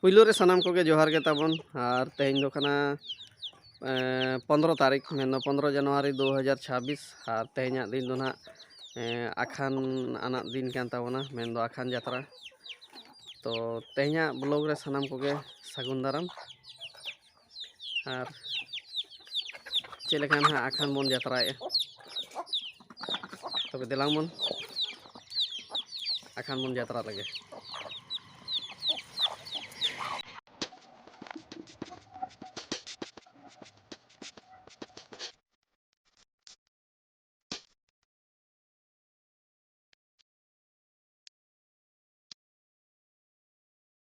ᱯᱩᱭᱞᱩ ᱨᱮ ᱥᱟᱱᱟᱢ ᱠᱚᱜᱮ ᱡᱚᱦᱟᱨ ᱜᱮ ᱛᱟᱵᱚᱱ ᱟᱨ ᱛᱮᱦᱮᱧ ᱫᱚ ᱠᱟᱱᱟ ᱯᱚᱱᱫᱨᱚ ᱛᱟᱹᱨᱤᱠᱷ ᱢᱮᱱᱫᱚ ᱯᱚᱱᱫᱨᱚ ᱡᱟᱱᱩᱣᱟᱨᱤ ᱫᱩ ᱦᱟᱡᱟᱨ ᱪᱷᱟᱵᱵᱤᱥ ᱟᱨ ᱛᱮᱦᱮᱧᱟᱜ ᱫᱤᱱ ᱫᱚ ᱱᱟᱦᱟᱜ ᱟᱠᱷᱟᱱ ᱟᱱᱟᱜ ᱫᱤᱱ ᱠᱟᱱ ᱛᱟᱵᱚᱱᱟ ᱢᱮᱱᱫᱚ ᱟᱠᱷᱟᱱ ᱡᱟᱛᱨᱟ ᱛᱚ ᱛᱮᱦᱮᱧᱟᱜ ᱵᱞᱚᱜ ᱨᱮ ᱥᱟᱱᱟᱢ ᱠᱚᱜᱮ ᱥᱟᱹᱜᱩᱱ ᱫᱟᱨᱟᱢ ᱟᱨ ᱪᱮᱫ ᱞᱮᱠᱟ ᱱᱟᱦᱟᱜ ᱟᱠᱷᱟᱱ ᱵᱚᱱ ᱡᱟᱛᱨᱟᱭᱮᱫᱼᱟ ᱛᱚᱵᱮ ᱫᱮᱞᱟᱝ ᱵᱚᱱ ᱟᱠᱷᱟᱱ ᱵᱚᱱ ᱡᱟᱛᱨᱟ ᱞᱮᱜᱮ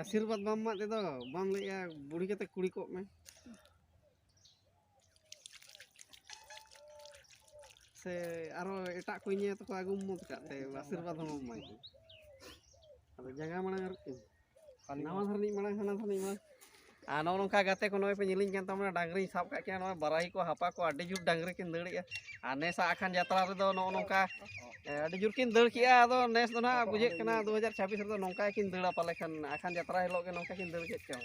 ᱟᱥᱤᱨᱵᱟᱫᱽ ᱵᱟᱢ ᱮᱢᱟᱜ ᱛᱮᱫᱚ ᱵᱟᱢ ᱞᱟᱹᱭᱮᱜᱼᱟ ᱵᱩᱲᱦᱤ ᱠᱟᱛᱮ ᱠᱩᱲᱤ ᱠᱚᱜ ᱢᱮ ᱥᱮ ᱟᱨᱚ ᱮᱴᱟᱜ ᱠᱚ ᱧᱮᱞ ᱛᱮᱠᱚ ᱟᱹᱜᱩ ᱢᱚᱛ ᱠᱟᱜ ᱛᱮ ᱟᱥᱤᱨᱵᱟᱫᱽ ᱦᱚᱸ ᱵᱟᱢ ᱮᱢᱟᱭ ᱟᱫᱚ ᱡᱟᱸᱜᱟ ᱢᱟᱲᱟᱝ ᱟᱨᱠᱤ ᱱᱟᱣᱟ ᱫᱷᱟᱨᱮ ᱢᱟᱲᱟᱝ ᱦᱟᱱᱟ ᱫᱷᱟᱨᱮ ᱢᱟᱲᱟᱝ ᱟᱨ ᱱᱚᱜᱼᱚ ᱱᱚᱝᱠᱟ ᱜᱟᱛᱮ ᱠᱚ ᱱᱚᱜᱼᱚᱭ ᱯᱮ ᱧᱮᱞᱤᱧ ᱠᱟᱱ ᱛᱟᱵᱚᱱᱟ ᱰᱟᱝᱨᱤᱧ ᱥᱟᱵ ᱠᱟᱜ ᱠᱤᱱᱟ ᱱᱚᱜᱼᱚᱭ ᱵᱟᱨᱟᱭ ᱠᱚ ᱦᱟᱯᱟ ᱠᱚ ᱟᱹᱰᱤ ᱡᱳᱨ ᱰᱟᱝᱨᱤ ᱠᱤᱱ ᱫᱟᱹᱲᱮᱜᱼᱟ ᱟᱨ ᱱᱮᱥᱟᱜ ᱟᱠᱷᱟᱱ ᱡᱟᱛᱨᱟ ᱨᱮᱫᱚ ᱱᱚᱜᱼᱚ ᱱᱚᱝᱠᱟ ᱟᱹᱰᱤ ᱡᱳᱨ ᱠᱤᱱ ᱫᱟᱹᱲ ᱠᱮᱜᱼᱟ ᱟᱫᱚ ᱱᱮᱥ ᱫᱚ ᱱᱟᱦᱟᱜ ᱵᱩᱡᱷᱟᱹᱜ ᱠᱟᱱᱟ ᱫᱩ ᱦᱟᱡᱟᱨ ᱪᱷᱟᱵᱵᱤᱥ ᱨᱮᱫᱚ ᱱᱚᱝᱠᱟ ᱠᱤᱱ ᱫᱟᱹᱲᱟ ᱯᱟᱞᱮ ᱠᱷᱟᱱ ᱟᱠᱷᱟᱱ ᱡᱟᱛᱨᱟ ᱦᱤᱞᱳᱜ ᱜᱮ ᱱᱚᱝᱠᱟ ᱠᱤᱱ ᱫᱟᱹᱲ ᱠᱮᱫ ᱪᱚᱝ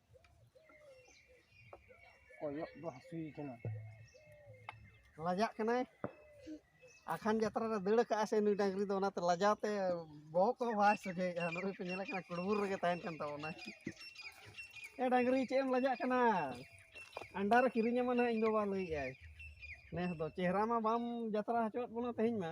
ᱠᱚᱭᱚᱜ ᱫᱚ ᱦᱟᱹᱥᱩᱭ ᱠᱟᱱᱟ ᱞᱟᱡᱟᱜ ᱠᱟᱱᱟᱭ ᱟᱠᱷᱟᱱ ᱡᱟᱛᱨᱟ ᱨᱮ ᱫᱟᱹᱲ ᱠᱟᱜᱼᱟ ᱥᱮ ᱱᱩᱭ ᱰᱟᱹᱝᱨᱤ ᱫᱚ ᱚᱱᱟᱛᱮ ᱞᱟᱡᱟᱣ ᱛᱮ ᱵᱚᱦᱚᱜ ᱠᱚ ᱵᱟᱭ ᱥᱚᱡᱷᱮᱭᱮᱜᱼᱟ ᱱᱩᱭ ᱯᱮ ᱧᱮᱞᱮ ᱠᱟᱱᱟ ᱠᱩᱲᱵᱩᱨ ᱨᱮᱜᱮ ᱛᱟᱦᱮᱱ ᱠᱟᱱ ᱛᱟᱵᱚᱱᱟ ᱮ ᱰᱟᱹᱝᱨᱤ ᱪᱮᱫ ᱮᱢ ᱞᱟᱡᱟᱜ ᱠᱟᱱᱟ ᱟᱱᱰᱟ ᱨᱮ ᱠᱤᱨᱤᱧᱟᱢᱟ ᱱᱟᱦᱟᱜ ᱤᱧ ᱵᱟᱵᱟ ᱞᱟᱹᱭᱮᱜᱼᱟᱭ ᱱᱮᱥ ᱫᱚ ᱪᱮᱦᱨᱟ ᱢᱟ ᱵᱟᱢ ᱡᱟᱛᱨᱟ ᱦᱚᱪᱚᱣᱟᱫ ᱵᱚᱱᱟ ᱛᱮᱦᱮᱧ ᱢᱟ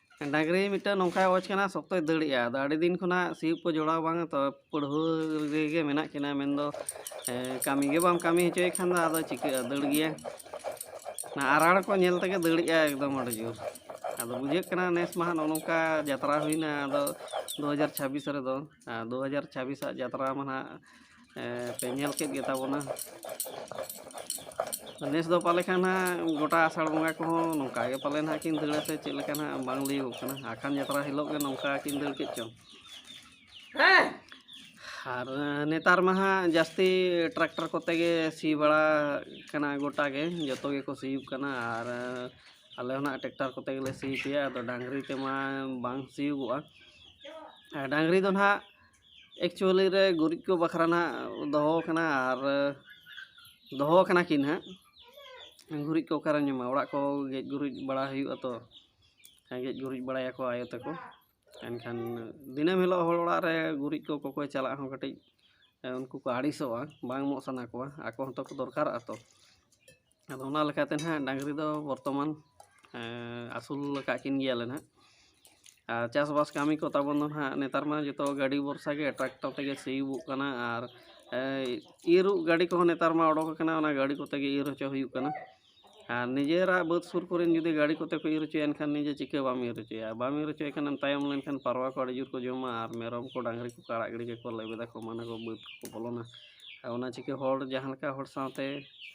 ᱰᱟᱹᱝᱨᱤ ᱢᱤᱫᱴᱟᱹᱝ ᱱᱚᱝᱠᱟᱭ ᱚᱵᱚᱡᱽ ᱠᱟᱱᱟ ᱥᱚᱠᱛᱚᱭ ᱫᱟᱹᱲᱮᱜᱼᱟ ᱟᱫᱚ ᱟᱹᱰᱤ ᱫᱤᱱ ᱠᱷᱚᱱᱟᱜ ᱥᱤᱭᱳᱜ ᱠᱚ ᱡᱚᱲᱟᱣ ᱵᱟᱝ ᱛᱚ ᱯᱟᱹᱲᱦᱟᱹ ᱨᱮᱜᱮ ᱢᱮᱱᱟᱜ ᱠᱤᱱᱟᱹ ᱢᱮᱱ ᱫᱚ ᱠᱟᱹᱢᱤ ᱜᱮ ᱵᱟᱢ ᱠᱟᱹᱢᱤ ᱦᱚᱪᱚᱭᱮ ᱠᱷᱟᱱ ᱫᱚ ᱟᱫᱚ ᱪᱤᱠᱟᱹᱜᱼᱟ ᱫᱟᱹᱲ ᱜᱮᱭᱟ ᱚᱱᱟ ᱟᱨᱟᱲ ᱠᱚ ᱧᱮᱞ ᱛᱮᱜᱮ ᱫᱟᱹᱲᱮᱜᱼᱟ ᱮᱠᱫᱚᱢ ᱟᱹᱰᱤ ᱡᱳᱨ ᱟᱫᱚ ᱵᱩᱡᱷᱟᱹᱜ ᱠᱟᱱᱟ ᱱᱮᱥ ᱢᱟ ᱦᱟᱸᱜ ᱱᱚᱜᱼᱚ ᱱᱚᱝᱠᱟ ᱡᱟᱛᱨᱟ ᱦᱩᱭᱱᱟ ᱟᱫᱚ ᱫᱩ ᱦᱟᱡᱟᱨ ᱪᱷᱟᱵᱽᱵᱤᱥ ᱨᱮᱫᱚ ᱟᱨ ᱫᱩ ᱦᱟᱡᱟᱨ ᱪᱷᱟᱵᱽᱵᱤᱥᱟᱜ ᱡᱟᱛᱨᱟ ᱢᱟ ᱦᱟᱸᱜ ᱯᱮ ᱧᱮᱞ ᱠᱮᱫ ᱜᱮᱛᱟ ᱵᱚᱱᱟ ᱱᱮᱥ ᱫᱚ ᱯᱟᱞᱮ ᱠᱷᱟᱱ ᱦᱟᱸᱜ ᱜᱚᱴᱟ ᱟᱥᱟᱲ ᱵᱚᱸᱜᱟ ᱠᱚᱦᱚᱸ ᱱᱚᱝᱠᱟ ᱜᱮ ᱯᱟᱞᱮ ᱦᱟᱸᱜ ᱠᱤᱱ ᱫᱟᱹᱲᱟ ᱥᱮ ᱪᱮᱫ ᱞᱮᱠᱟ ᱦᱟᱸᱜ ᱵᱟᱝ ᱞᱟᱹᱭᱚᱜ ᱠᱟᱱᱟ ᱟᱠᱷᱟᱱ ᱡᱟᱛᱨᱟ ᱦᱤᱞᱳᱜ ᱜᱮ ᱱᱚᱝᱠᱟ ᱠᱤᱱ ᱫᱟᱹᱲ ᱠᱮᱫ ᱪᱚᱝ ᱟᱨ ᱱᱮᱛᱟᱨ ᱢᱟ ᱦᱟᱸᱜ ᱡᱟᱹᱥᱛᱤ ᱴᱨᱟᱠᱴᱟᱨ ᱠᱚᱛᱮ ᱜᱮ ᱥᱤ ᱵᱟᱲᱟ ᱠᱟᱱᱟ ᱜᱚᱴᱟ ᱜᱮ ᱡᱚᱛᱚ ᱜᱮᱠᱚ ᱥᱤᱭᱳᱜ ᱠᱟᱱᱟ ᱟᱨ ᱟᱞᱮ ᱦᱚᱸ ᱦᱟᱸᱜ ᱴᱨᱟᱠᱴᱟᱨ ᱠᱚᱛᱮ ᱜᱮᱞᱮ ᱥᱤ ᱦᱚᱪᱚᱭᱟ ᱟᱫᱚ ᱰᱟᱝᱨᱤ ᱛᱮᱢᱟ ᱵᱟᱝ ᱥᱤᱭᱳᱜᱚᱜᱼᱟ ᱰᱟᱝᱨᱤ ᱫᱚ ᱦᱟᱸᱜ ᱮᱠᱪᱩᱭᱮᱞᱤ ᱨᱮ ᱜᱩᱨᱤᱡ ᱠᱚ ᱵᱟᱠᱷᱨᱟ ᱱᱟᱜ ᱫᱚᱦᱚ ᱠᱟᱱᱟ ᱟᱨ ᱫᱚᱦᱚ ᱠᱟᱱᱟ ᱠᱤᱱ ᱦᱟᱸᱜ ᱜᱩᱨᱤᱡ ᱠᱚ ᱚᱠᱟᱨᱮᱢ ᱧᱟᱢᱟ ᱚᱲᱟᱜ ᱠᱚ ᱜᱮᱡ ᱜᱩᱨᱤᱡ ᱵᱟᱲᱟ ᱦᱩᱭᱩᱜᱼᱟ ᱛᱚ ᱜᱮᱡ ᱜᱩᱨᱤᱡ ᱵᱟᱲᱟᱭᱟᱠᱚ ᱟᱭᱳ ᱛᱟᱠᱚ ᱮᱱᱠᱷᱟᱱ ᱫᱤᱱᱟᱹᱢ ᱦᱤᱞᱳᱜ ᱦᱚᱲ ᱚᱲᱟᱜ ᱨᱮ ᱜᱩᱨᱤᱡ ᱠᱚ ᱠᱚᱠᱚᱭ ᱪᱟᱞᱟᱜ ᱦᱚᱸ ᱠᱟᱹᱴᱤᱡ ᱩᱱᱠᱩ ᱠᱚ ᱟᱹᱲᱤᱥᱚᱜᱼᱟ ᱵᱟᱝ ᱮᱢᱚᱜ ᱥᱟᱱᱟ ᱠᱚᱣᱟ ᱟᱠᱚ ᱦᱚᱸᱛᱚ ᱠᱚ ᱫᱚᱨᱠᱟᱨᱚᱜᱼᱟ ᱛᱚ ᱟᱫᱚ ᱚᱱᱟ ᱞᱮᱠᱟᱛᱮ ᱱᱟᱦᱟᱜ ᱰᱟᱹᱝᱨᱤ ᱫᱚ ᱵᱚᱨᱛᱚᱢᱟᱱ ᱟᱹᱥᱩᱞ ᱟᱠᱟᱫ ᱠᱤᱱ ᱜᱮᱭᱟᱞᱮ ᱱᱟᱦᱟᱜ ᱟᱨ ᱪᱟᱥᱵᱟᱥ ᱠᱟᱹᱢᱤ ᱠᱚ ᱛᱟᱵᱚᱱ ᱫᱚ ᱱᱟᱦᱟᱜ ᱱᱮᱛᱟᱨ ᱢᱟ ᱡᱚᱛᱚ ᱜᱟᱹᱰᱤ ᱵᱷᱚᱨᱥᱟ ᱜᱮ ᱴᱨᱟᱠᱴᱚᱨ ᱛᱮᱜᱮ ᱥᱤᱭᱳᱜᱚᱜ ᱠᱟᱱᱟ ᱟᱨ ᱤᱨᱚᱜ ᱜᱟᱹᱰᱤ ᱠᱚᱦᱚᱸ ᱱᱮᱛᱟᱨ ᱢᱟ ᱚᱰᱚᱠ ᱟᱠᱟᱱᱟ ᱚᱱᱟ ᱜᱟᱹᱰᱤ ᱠᱚᱛᱮ ᱜᱮ ᱤᱨ ᱦᱚᱪᱚ ᱦᱩᱭᱩᱜ ᱠᱟᱱᱟ ᱟᱨ ᱱᱤᱡᱮᱨᱟᱜ ᱵᱟᱹᱫᱽ ᱥᱩᱨ ᱠᱚᱨᱮ ᱡᱩᱫᱤ ᱜᱟᱹᱰᱤ ᱠᱚᱛᱮ ᱠᱚ ᱤᱨ ᱦᱚᱪᱚᱭᱟ ᱮᱱᱠᱷᱟᱱ ᱱᱤᱡᱮ ᱪᱤᱠᱟᱹ ᱵᱟᱢ ᱤᱨ ᱦᱚᱪᱚᱭᱟ ᱵᱟᱢ ᱤᱨ ᱦᱚᱪᱚᱭ ᱠᱷᱟᱱᱮᱢ ᱛᱟᱭᱚᱢ ᱞᱮᱱᱠᱷᱟᱱ ᱯᱟᱨᱣᱟ ᱠᱚ ᱟᱹᱰᱤ ᱡᱳᱨ ᱠᱚ ᱡᱚᱢᱟ ᱟᱨ ᱢᱮᱨᱚᱢ ᱠᱚ ᱰᱟᱹᱝᱨᱤ ᱠᱚᱠᱚ ᱟᱲᱟᱜ ᱜᱤᱰᱤ ᱠᱟᱠᱚᱣᱟ ᱞᱮᱵᱮᱫᱟᱠᱚ ᱢᱟᱱᱮ ᱠᱚ ᱵᱟᱹᱫᱽ ᱠᱚᱠᱚ ᱵᱚᱞᱚᱱᱟ ᱟᱨ ᱚᱱᱟ ᱪᱤᱠᱟᱹ ᱦᱚᱲ ᱡᱟᱦᱟᱸ ᱞᱮᱠᱟ ᱦᱚᱲ ᱥᱟᱶᱛᱮ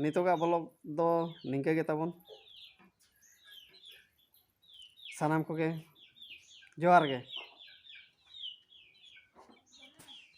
ᱱᱤᱛᱚᱜᱟᱜ ᱵᱞᱚᱜᱽ ᱫᱚ ᱱᱤᱝᱠᱟᱹ ᱜᱮ ᱛᱟᱵᱚᱱ ᱥᱟᱱᱟᱢ ᱠᱚᱜᱮ ᱡᱚᱦᱟᱨ ᱜᱮ